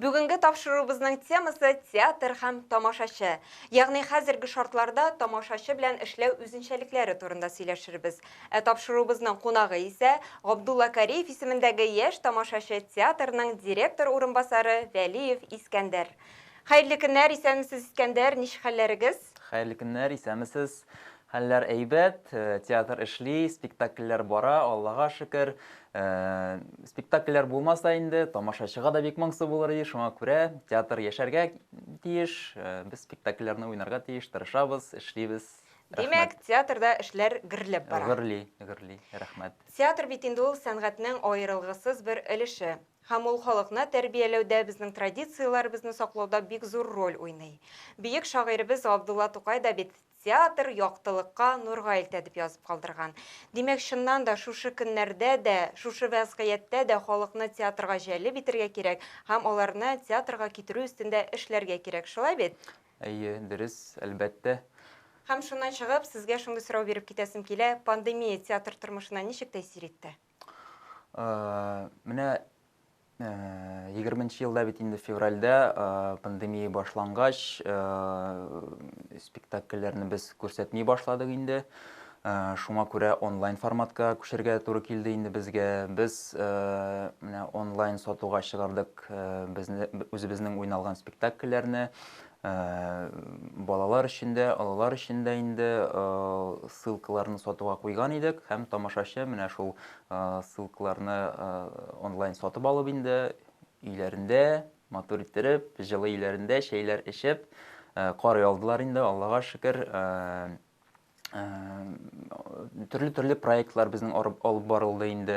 Бүгенге тапшыруыбызның темасы театр һәм тамашачы. Ягъни хәзерге шартларда тамашачы белән эшләү үзенчәлекләре турында сөйләшербез. Ә тапшыруыбызның кунагы исә Габдулла Кариев исемендәге яшь тамашачы театрның директор урынбасары Вәлиев Искәндәр. Хәерле көннәр, исәнмесез Искәндәр, ничек хәлләрегез? Хәерле көннәр, исәнмесез. Хәлләр әйбәт, театр эшли, спектакльләр бара, Аллага шөкер. Спектакльләр булмаса инде, тамашачыга да бик моңсу булыр иде, шуңа күрә театр яшәргә тиеш, без спектакльләрне уйнарга тиеш, тырышабыз, эшлибез. Димәк, театрда эшләр гөрләп бара. Гөрли, гөрли, рәхмәт. Театр бит инде ул сәнгатьнең аерылгысыз бер өлеше. Һәм ул халыкны тәрбияләүдә, безнең традицияләребезне саклауда бик зур роль уйный. Бөек шагыйребез Габдулла Тукай да бит Театр яктылыкка, нурга илтә, дип язып калдырган. Димәк, чыннан да, шушы көннәрдә дә, шушы вәзгыятьтә дә халыкны театрга җәлеп итәргә кирәк һәм аларны театрга китерү өстендә эшләргә кирәк, шулай бит? Әйе, дөрес, әлбәттә. Һәм шуннан чыгып, сезгә шундый сорау биреп китәсем килә, пандемия театр тормышына ничек тәэсир итте? Менә 20 елда бит инде февральдә пандемия башлангач, спектакльләрне без күрсәтми башладык инде. Шуңа күрә онлайн форматка күчергә туры килде инде безгә. Без менә онлайн сатуга чыгардык үзебезнең уйналган спектакльләрне. Балалар өчен дә, олылар өчен дә инде ссылкаларны сатуга куйган идек һәм тамашачы менә шул ссылкаларны онлайн сатып алып инде өйләрендә матур иттереп, җылы өйләрендә чәйләр эчеп карый алдылар инде, Аллага шөкер. төрле төрле проектлар безнең алып барылды инде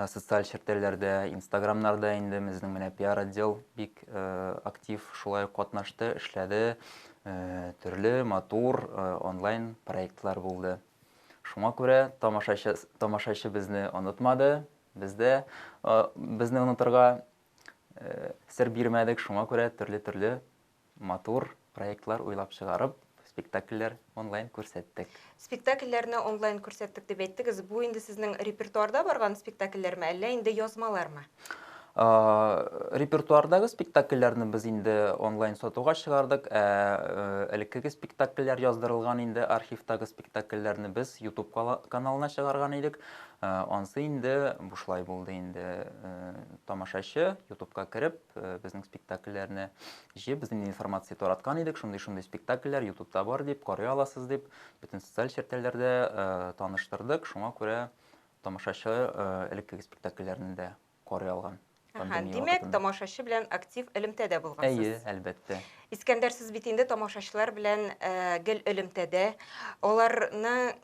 социаль челтәрләрдә инстаграмнарда инде безнең менә пиар отдел бик актив шулай катнашты эшләде төрле матур онлайн проектлар булды шуңа күрә тамашачы тамашачы безне онытмады без дә безне онытырга сер бирмәдек шуңа күрә төрле төрле Матур проектлар уйлап чыгарып, спектакльләр онлайн күрсәттек. Спектакльләрне онлайн күрсәттек дип әйттегез. Бу инде сезнең репертуарда барган спектакльләрме, әллә инде язмалармы? Репертуардагы спектакльләрне без инде онлайн сатуга чыгардык, ә элеккеге спектакльләр яздырылган инде архивтагы спектакльләрне без YouTube каналына чыгарган идек. Ансы инде бушлай булды инде. Тамашачы YouTube-ка кереп, э, безнең спектакльләрне җыеп без инде информация тараткан идек шундый шундый спектакльләр ютубта бар дип карый аласыз дип бөтен социаль челтәрләрдә э, таныштырдык шуңа күрә тамашачы э, элеккеге спектакльләрне дә карый алган Ага, димәк, тамашачы белән актив элемтәдә булгансыз. Әйе, әлбәттә. Искәндәр, сез бит инде тамашачылар белән э, гел элемтәдә. Аларны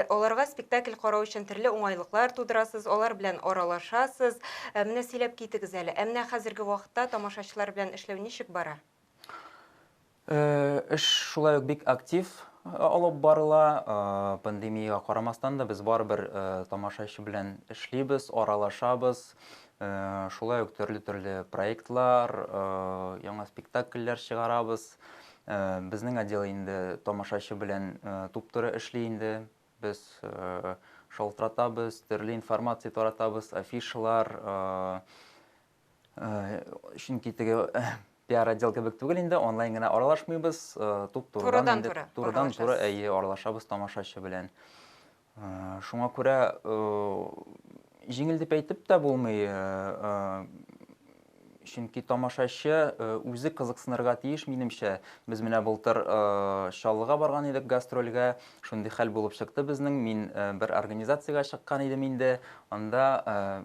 Аларга спектакль карау өчен төрле уңайлыклар тудырасыз, алар белән аралашасыз. Менә сөйләп китегез әле, ә менә хәзерге вакытта тамашачылар белән эшләү ничек бара? Эш шулай ук бик актив алып барыла. Пандемиягә карамастан да, без барыбер тамашачы белән эшлибез, аралашабыз. Шулай ук төрле-төрле проектлар, яңа спектакльләр чыгарабыз. Безнең отдел инде тамашачы белән туп-туры эшли инде. Без шалтыратабыз, төрле информация таратабыз, афишалар. Чөнки теге пиар отдел кебек түгел инде, онлайн гына аралашмыйбыз, туп-турыдан инде. Турыдан-туры. Турыдан-туры, әйе, аралашабыз тамашачы белән. Шуңа күрә җиңел дип әйтеп тә булмый, чөнки тамашачы э, үзе кызыксынырга тиеш минемчә без менә былтыр э, чаллыга барган идек гастрольгә шундый хәл булып чыкты безнең мин э, бер организациягә чыккан идем инде анда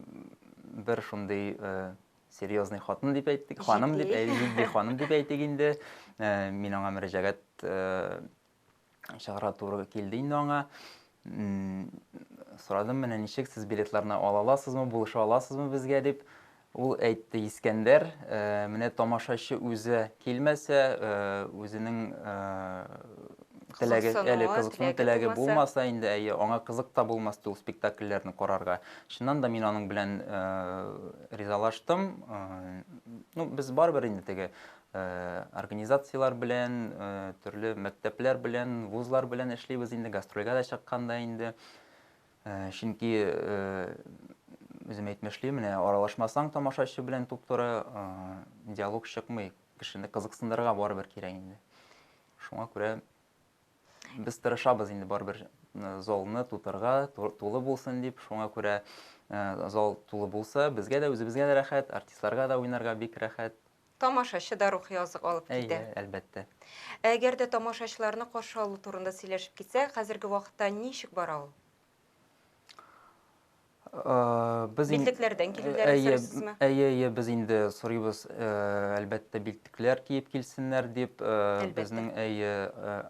бер шундый серьезный хатын дип әйттек ханым дип әйтик ханым дип әйтик инде мин аңа мөрәҗәгать чыгарга туры килде инде аңа. Сорадым, менә ничек сез билетларны ала аласызмы, булыша аласызмы безгә дип. Ул әйтте Искәндәр, э, менә тамашачы үзе килмәсә, э, үзенең э, теләге, әле кызыксыну теләге булмаса, инде әйе, аңа кызык та булмас ул спектакльләрне карарга. Чыннан да мин аның белән ризалаштым. Ну, без барыбер инде теге Организацияләр белән, төрле мәктәпләр белән, вузлар белән эшлибез инде, гастрольгә дә чыкканда инде. Чөнки үзем әйтмешли, менә аралашмасаң тамашачы белән туп-туры диалог чыкмый. Кешене кызыксындырырга барыбер кирәк инде. Шуңа күрә без тырышабыз инде барыбер залны тутырга, тулы булсын дип. Шуңа күрә зал тулы булса, безгә дә, үзебезгә дә рәхәт, артистларга да уйнарга бик рәхәт. Тамашачы да рухи азык алып китә. Әйе, әлбәттә. Ә әгәр дә тамашачыларны каршы алу турында сөйләшеп китсә, хәзерге вакытта ничек бара ул? Без билтекләрдән килүләрен сорыйсызмы? Әйе, әйе, без инде сорыйбыз, әлбәттә, билтекләр киеп килсеннәр дип. Безнең әйе,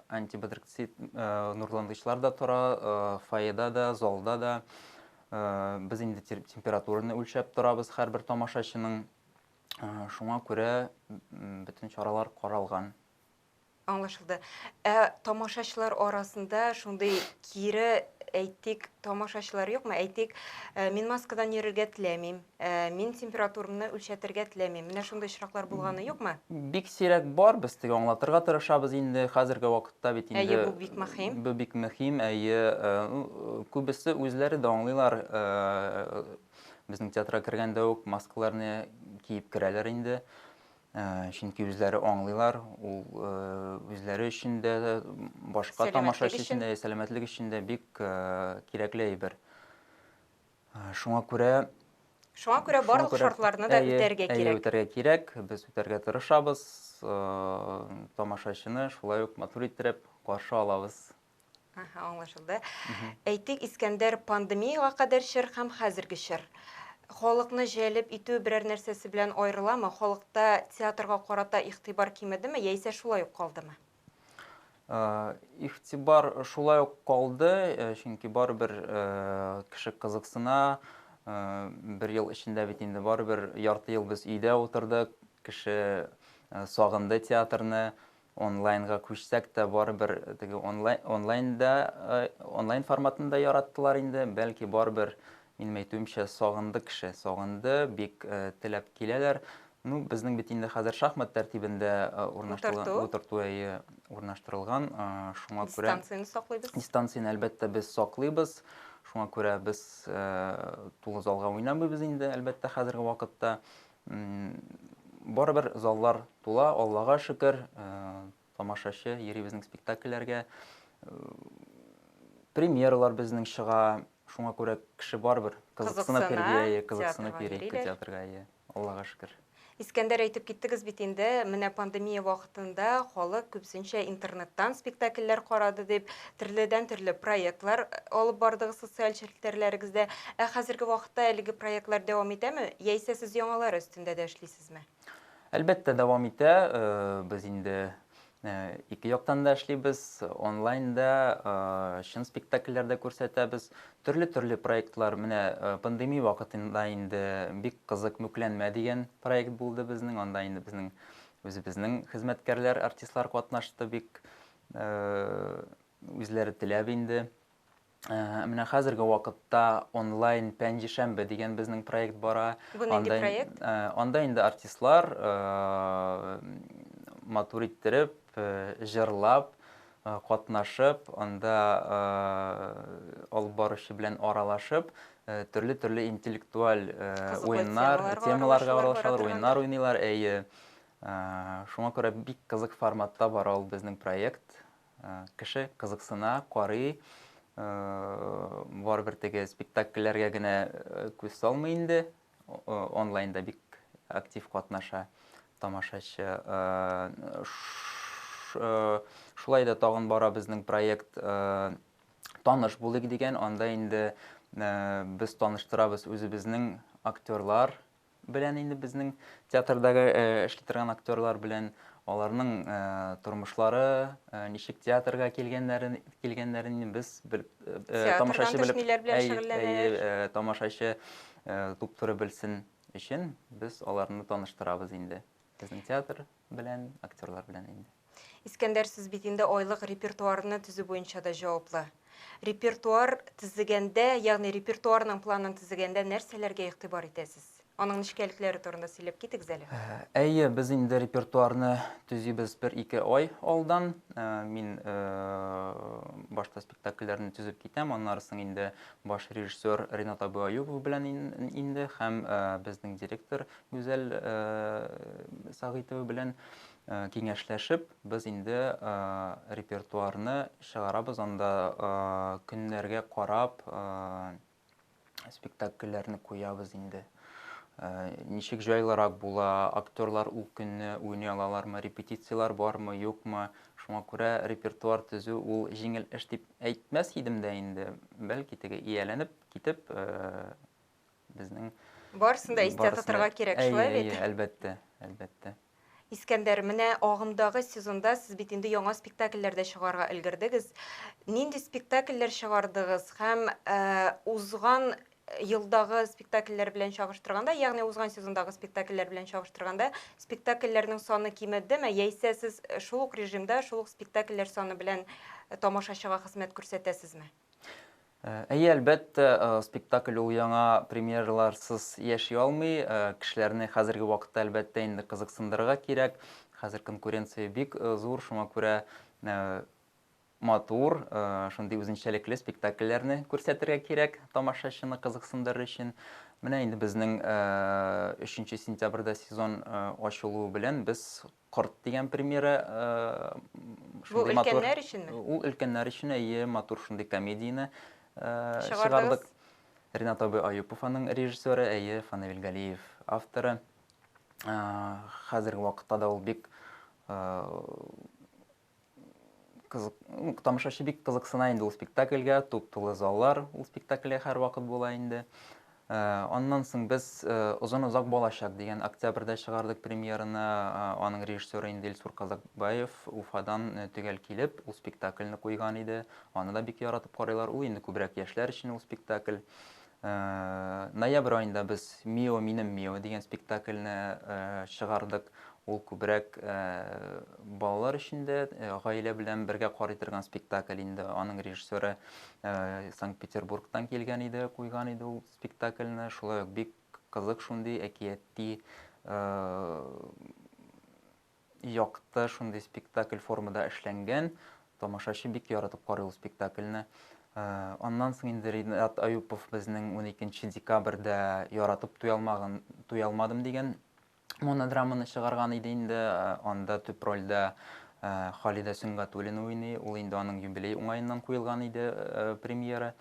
антибадрикцит нурландычлар да тора, фойеда да, залда да. Без инде температураны үлчәп торабыз һәрбер тамашачының. Шуңа күрә бөтен чаралар каралган. Аңлашылды. Ә тамашачылар арасында шундый кире әйтик, тамашачылар юкмы? Әйтик, э, мин маскадан йөрергә теләмим, э, мин температурамны үлчәтергә теләмим. Менә шундый очраклар булганы юкмы? Бик сирәк бар, без теге аңлатырга тырышабыз инде. Хәзерге вакытта бит инде Әйе, бу бик мөһим. Бу бик мөһим, әйе. Э, күбесе үзләре дә аңлыйлар, Безнең театрга кергәндә үк маскаларны киеп керәләр инде. Э, чөнки үзләре аңлыйлар, ул э, үзләре өчен дә, башка тамашачы өчен дә, сәламәтлек өчен дә бик э, кирәкле әйбер. Шуңа күрә Шуңа күрә барлык шартларны да үтәргә кирәк. Әйе, үтәргә кирәк. Без үтәргә тырышабыз. Тамашачыны шулай ук матур иттереп каршы алабыз. Аһа, аңлашылды. Әйтик, Искәндәр пандемиягә кадәр чор һәм хәзерге чор. Халыкны җәлеп итү берәр нәрсәсе белән аерыламы? Халыкта театрга карата игътибар кимедеме яисә шулай ук калдымы? Э, Игътибар шулай ук калды, э, чөнки барыбер э, кеше кызыксына. Э, Бер ел эчендә бит инде барыбер ярты ел без өйдә утырдык. Кеше э, сагынды театрны. Онлайнга күчсәк тә, барыбер теге онлайнда, онлайн форматын да яраттылар инде. Бәлки барыбер, минем әйтүемчә, сагынды кеше, сагынды, бик теләп киләләр. Ну, безнең бит инде хәзер шахмат тәртибендә урнаштырылган, утырту, әйе, урнаштырылган. Шуңа күрә... Дистанцияне саклыйбыз. Дистанцияне, әлбәттә, без саклыйбыз. Шуңа күрә без тулы залга уйнамыйбыз инде, әлбәттә, хәзерге вакытта. Барыбер заллар тула, Аллага шөкер, тамашачы йөри безнең спектакльләргә. Премьералар безнең чыга, шуңа күрә кеше барыбер кызыксынып йөри, кызыксынып йөри театрга, Аллага шөкер. Искәндәр, әйтеп киттегез бит инде, менә пандемия вакытында халык күбесенчә интернеттан спектакльләр карады дип. төрледән төрле проектлар алып бардыгыз социаль челтәрләрегездә. Ә хәзерге вакытта әлеге проектлар дәвам итәме, яисә сез яңалары өстендә дә эшлисезме? Әлбәттә, дәвам итә. Без инде ике яктан да эшлибез. Онлайн да, чын спектакльләр дә күрсәтәбез. Төрле-төрле проектлар, менә пандемия вакытында инде бик кызык Мүкләнмә дигән проект булды безнең. Анда инде безнең үзебезнең хезмәткәрләр, артистлар катнашты бик. Үзләре теләп инде. Менә хәзерге вакытта онлайн пәнҗешәмбе дигән безнең проект бара. Бу нинди проект? Анда инде артистлар матур иттереп, җырлап, катнашып, анда алып баручы белән аралашып, төрле-төрле интеллектуаль уеннар, темаларга аралашалар, уеннар уйныйлар, әйе. Шуңа күрә бик кызык форматта бара ул безнең проект. Кеше кызыксына, карый. Барыбер теге спектакльләргә генә күз салмый инде. Онлайнда бик актив катнаша тамашачы. Шулай да тагын бара безнең проект Таныш булыйк дигән. Анда инде без таныштырабыз үзебезнең актерлар, белән инде безнең театрдагы эшли торган актерлар белән аларның тормышлары, ничек театрга килгәннәрен килгәннәрен без бел, тамашачы белән тамашачы туптырып белсен өчен без аларны таныштырабыз инде. Безнең театр белән, актерлар белән инде. Искәндәр, сез бит инде айлык репертуарны төзү буенча да җаваплы. Репертуар төзегәндә, ягъни репертуарның планын төзегәндә нәрсәләргә игътибар итәсез? Аның нечкәлекләре турында сөйләп китегез әле. Әйе, без инде репертуарны төзибез бер-ике ай алдан. Мин башта спектакльләрне төзеп китәм, аннары соң инде баш режиссер Ренат Абыаюпов белән инде һәм безнең директор Гүзәл Сагыйтова белән Киңәшләшеп, без инде репертуарны чыгарабыз, анда көннәргә карап спектакльләрне куябыз инде. Ничек җайлырак була, актерлар ул көнне уйный алалармы, репетицияләр бармы, юкмы? Шуңа күрә репертуар төзү ул җиңел эш дип әйтмәс идем дә инде. Бәлки теге ияләнеп китеп безнең Барысын да истә тотарга кирәк, шулай бит? Әйе, әлбәттә, әлбәттә. Искәндәр, менә агымдагы сезонда сез бит инде яңа спектакльләр дә чыгарга өлгердегез. Нинди спектакльләр чыгардыгыз һәм узган елдагы спектакльләр белән чагыштырганда, ягъни узган сезондагы спектакльләр белән чагыштырганда, спектакльләрнең саны кимедеме, яисә сез шул ук режимда, шул ук спектакльләр саны белән тамашачыга хезмәт күрсәтәсезме? Әйе, әлбәттә, спектакль ул яңа премьераларсыз яши алмый. Кешеләрне хәзерге вакытта, әлбәттә, инде кызыксындырырга кирәк. Хәзер конкуренция бик зур, шуңа күрә матур, шундый үзенчәлекле спектакльләрне күрсәтергә кирәк тамашачыны кызыксындырыр өчен. Менә инде безнең 3 сентябрьдә сезон ачылуы белән без Корт дигән премьера. Бу өлкәннәр өченме? Ул өлкәннәр өчен, әйе, матур шундый комедияне чыгардык. Ринат абый Аюпов аның режиссеры, әйе, Фанавил Галиев авторы. Хәзерге вакытта да ул бик Кызык, ну, тамашачы бик кызыксына инде ул спектакльгә, туп-тулы заллар ул спектакльгә һәрвакыт була инде. Э, аннан соң без э, Озын озак балачак дигән октябрьдә чыгардык премьераны. Э, аның режиссеры инде Илсур Казакбаев Уфадан э, төгәл килеп, ул спектакльне куйган иде. Аны да бик яратып карыйлар. Ул инде күбрәк яшьләр өчен ул спектакль. Ноябрь аенда без Мио, минем Мио дигән спектакльне чыгардык. Ул күбрәк балалар өчен дә, гаилә белән бергә карый торган спектакль инде. Аның режиссеры Санкт-Петербургтан килгән иде, куйган иде ул спектакльне. Шулай ук бик кызык шундый әкияти Якты шундый спектакль формада эшләнгән. Тамашачы бик яратып карый ул спектакльне. Аннан соң инде Ринат Аюпов безнең 12 декабрьдә Яратып туялмагын туялмадым дигән монодраманы чыгарган иде инде. Анда төп рольдә Халидә Сөнгатуллина уйный. Ул инде аның юбилей уңаеннан куелган иде премьера.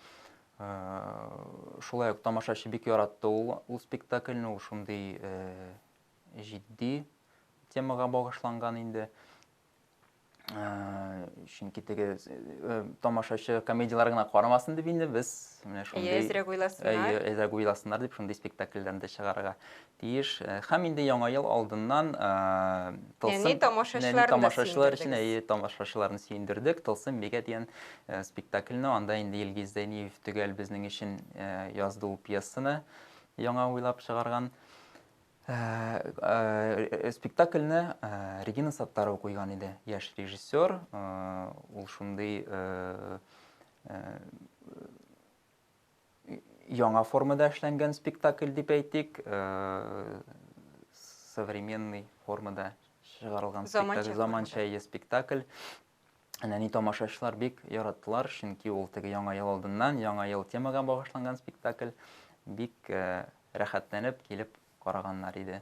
Шулай ук тамашачы бик яратты ул ул спектакльне, ул шундый җитди темага багышланган инде. Чөнки теге тамашачы комедияләр генә карамасын дип инде без менә шундый Әйе, әзрәк уйласыннар. Әзрәк уйласыннар дип шундый спектакльләрне дә чыгарырга тиеш. Һәм инде яңа ел алдыннан тылсым тамашачылар өчен әйе тамашачыларны сөендердек. Тылсым бигә дигән спектакльне анда инде Илгиз Зәйниев төгәл безнең өчен язды ул пьесаны яңа уйлап чыгарган. Спектакльне Регина Саттарова куйган иде, яшь режиссер. Ул шундый яңа формада эшләнгән спектакль дип әйтик, современный формада чыгарылган спектакль, заманча спектакль. Әнәни тамашачылар бик яраттылар, чөнки ул теге яңа ел алдыннан яңа ел темага багышланган спектакль бик э, рәхәтләнеп килеп караганнар иде.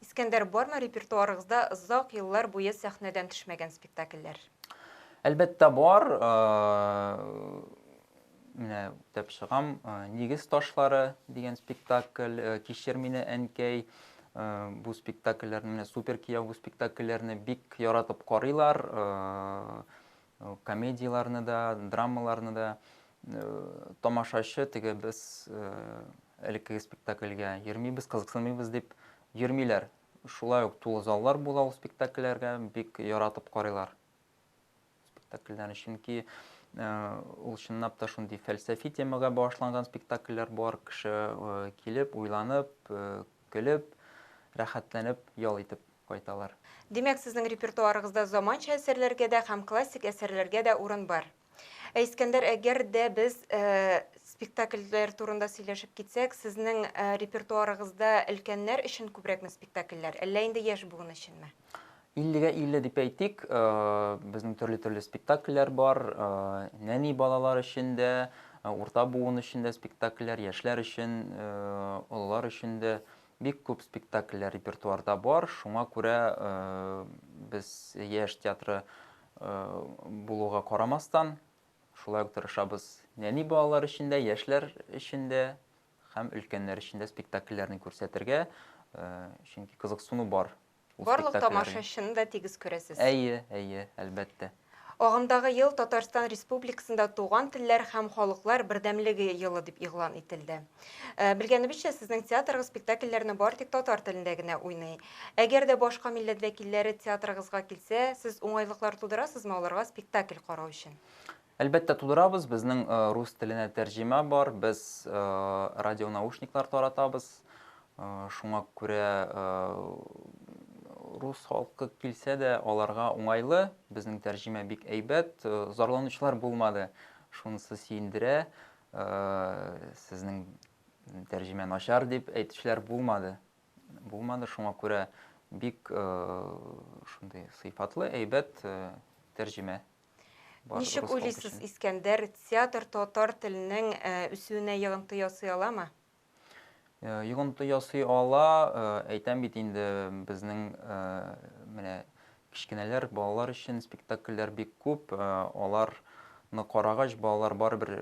Искәндәр, бармы репертуарыгызда озак еллар буе сәхнәдән төшмәгән спектакльләр? Әлбәттә бар. Э, Менә үтәп чыгам. Нигез ташлары дигән спектакль, Кичер мине, әнкәй, бу спектакльләрне, менә Супер кияү бу спектакльләрне бик яратып карыйлар. Комедияләрне дә, драмаларны да. Тамашачы теге без элеккеге спектакльгә йөрмибез, кызыксынмыйбыз дип йөрмиләр. Шулай ук тулы заллар була ул спектакльләргә, бик яратып карыйлар. спектакльләрне, чөнки ул чынлап та шундый фәлсәфи темага багышланган спектакльләр бар, кеше килеп, уйланып, көлеп, рәхәтләнеп, ял итеп кайталар. Димәк, сезнең репертуарыгызда заманча әсәрләргә дә һәм классик әсәрләргә дә урын бар? Ә Искәндәр, әгәр дә без э, спектакльләр турында сөйләшеп китсәк, сезнең э, репертуарыгызда өлкәннәр өчен күбрәкме спектакльләр, әллә инде яшь буын өченме? 50-гә 50 дип әйтик, э, безнең төрле-төрле спектакльләр бар, э, нәни балалар өчен дә, э, урта буын өчен дә спектакльләр, яшьләр өчен, э, олылар өчен дә бик күп спектакльләр репертуарда бар. Шуңа күрә э, без яшь театры булуга карамастан, шулай ук тырышабыз нәни балалар өчен дә, яшьләр өчен дә һәм өлкәннәр өчен дә спектакльләрне күрсәтергә, чөнки кызыксыну бар. Барлык тамашачыны да тигез күрәсез. Әйе, әйе, әлбәттә. Агымдагы ел Татарстан Республикасында Туган телләр һәм халыклар бердәмлеге елы дип игълан ителде. Э, белгәнебезчә, сезнең театрыгыз спектакльләрне бар тик татар телендә генә уйный. Әгәр дә башка милләт вәкилләре театрыгызга килсә, сез уңайлыклар тудырасызмы аларга спектакль карау өчен? Әлбәттә тудырабыз, безнең э, рус теленә тәрҗемә бар, без э, радионаушниклар таратабыз. Шуңа күрә рус халкы килсә дә аларга уңайлы, безнең тәрҗемә бик әйбәт, зарланучылар булмады, шунысы сөендерә. Сезнең тәрҗемә начар дип әйтүчеләр булмады. Булмады, шуңа күрә бик шундый сыйфатлы, әйбәт тәрҗемә. Ничек уйлыйсыз, Искәндәр, театр татар теленең үсүенә йогынты ясый аламы? Йогынты ясый ала, әйтәм бит инде, безнең менә кечкенәләр, балалар өчен спектакльләр бик күп, аларны карагач, балалар барыбер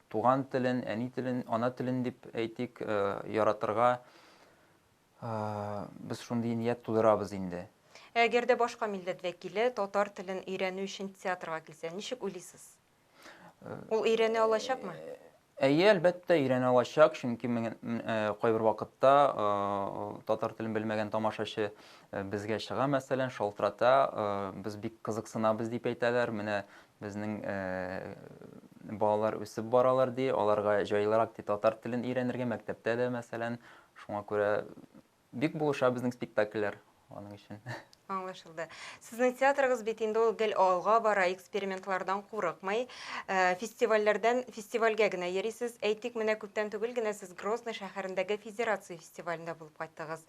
туган телен, әни телен, ана телен дип әйтик, яратырга без шундый ният тудырабыз инде. Әгәр дә башка милләт вәкиле татар телен өйрәнү өчен театрга килсә, ничек уйлыйсыз? Ул өйрәнә алачакмы? Әйе, әлбәттә, өйрәнә алачак, чөнки кайбер вакытта татар телен белмәгән тамашачы безгә чыга, мәсәлән, шалтырата, без бик кызыксынабыз дип әйтәләр, менә безнең балалар үсеп баралар ди, аларга җайлырак ди татар телен өйрәнергә мәктәптә дә, мәсәлән, шуңа күрә Бик булыша безнең спектакльләр аның өчен. Аңлашылды. Сезнең театрыгыз бит инде ул гел алга бара, экспериментлардан курыкмый. Фестивальләрдән фестивальгә генә йөрисез. Әйтик, менә күптән түгел генә сез Грозный шәһәрендәге Федерация фестивалендә булып кайттыгыз.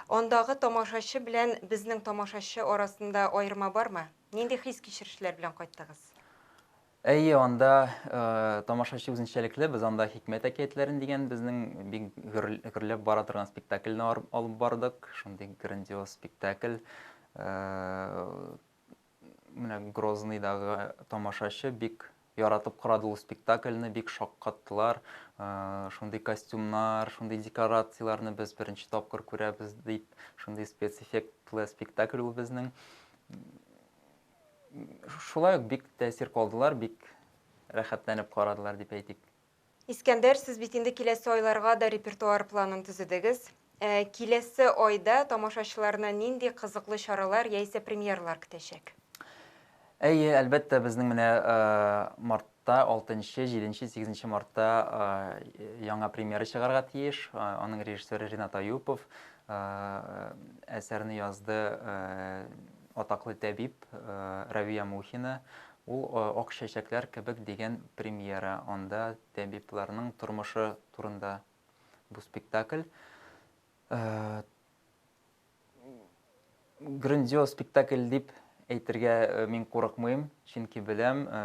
Андагы тамашачы белән безнең тамашачы арасында аерма бармы? Нинди хис-кичерешләр белән кайттыгыз? Әйе, анда тамашачы үзенчәлекле, без анда Хикмәт әкиятләрен дигән безнең бик гөрләп бара торган спектакльне алып бардык. Шундый грандиоз спектакль. Менә Грозныйдагы тамашачы бик яратып карады ул спектакльне, бик шаккаттылар. Шундый костюмнар, шундый декорацияләрне без беренче тапкыр күрәбез дип, шундый спецэффектлы спектакль ул безнең. Шулай ук бик тәэсир калдылар, бик рәхәтләнеп карадылар дип әйтик. Искәндәр, сез бит инде киләсе айларга да репертуар планын төзедегез. Киләсе айда тамашачыларны нинди кызыклы чаралар яисә премьералар көтәчәк? Әйе, әлбәттә, безнең менә март Та алтынчы, җиденче, сигезенче мартта яңа премьера чыгарга тиеш. Аның режиссеры Ренат Аюпов әсәрне язды атаклы тәбип Равия Мухина. Ул Ак чәчәкләр кебек дигән премьера. Анда тәбипларның тормышы турында бу спектакль. грандиоз спектакль дип әйтергә э, мин курыкмыйм, чөнки беләм, э,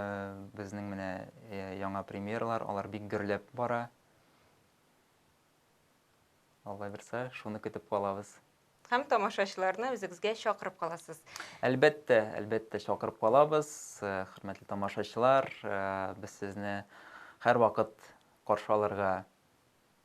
безнең менә э, яңа премьералар, алар бик гөрләп бара. Алла бирсә, шуны көтеп калабыз. Һәм тамашачыларны үзегезгә чакырып каласыз. Әлбәттә, әлбәттә чакырып калабыз. Хөрмәтле тамашачылар, без сезне һәрвакыт каршы алырга